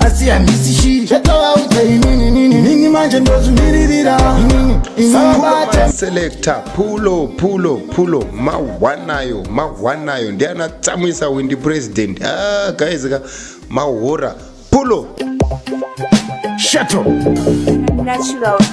asi handisi shi chatovaudza inini nini nini manje ndozvimiririra inini inini bate selector pulo pulo pulo mahwanayo mahwanayo ndiana tsamwisa windi president ah, guys ka mahora pulo shato Natural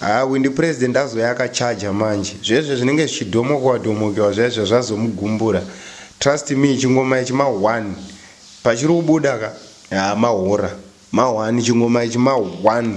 Haa windi president azouya akacharger manje zvezvo zvinenge zvichidhomokewa dhomokewa zvaizvo zvazomugumbura trust me chingoma ichi ma one pachiri kubuda ka haa mahora ma one chingoma ichi ma one.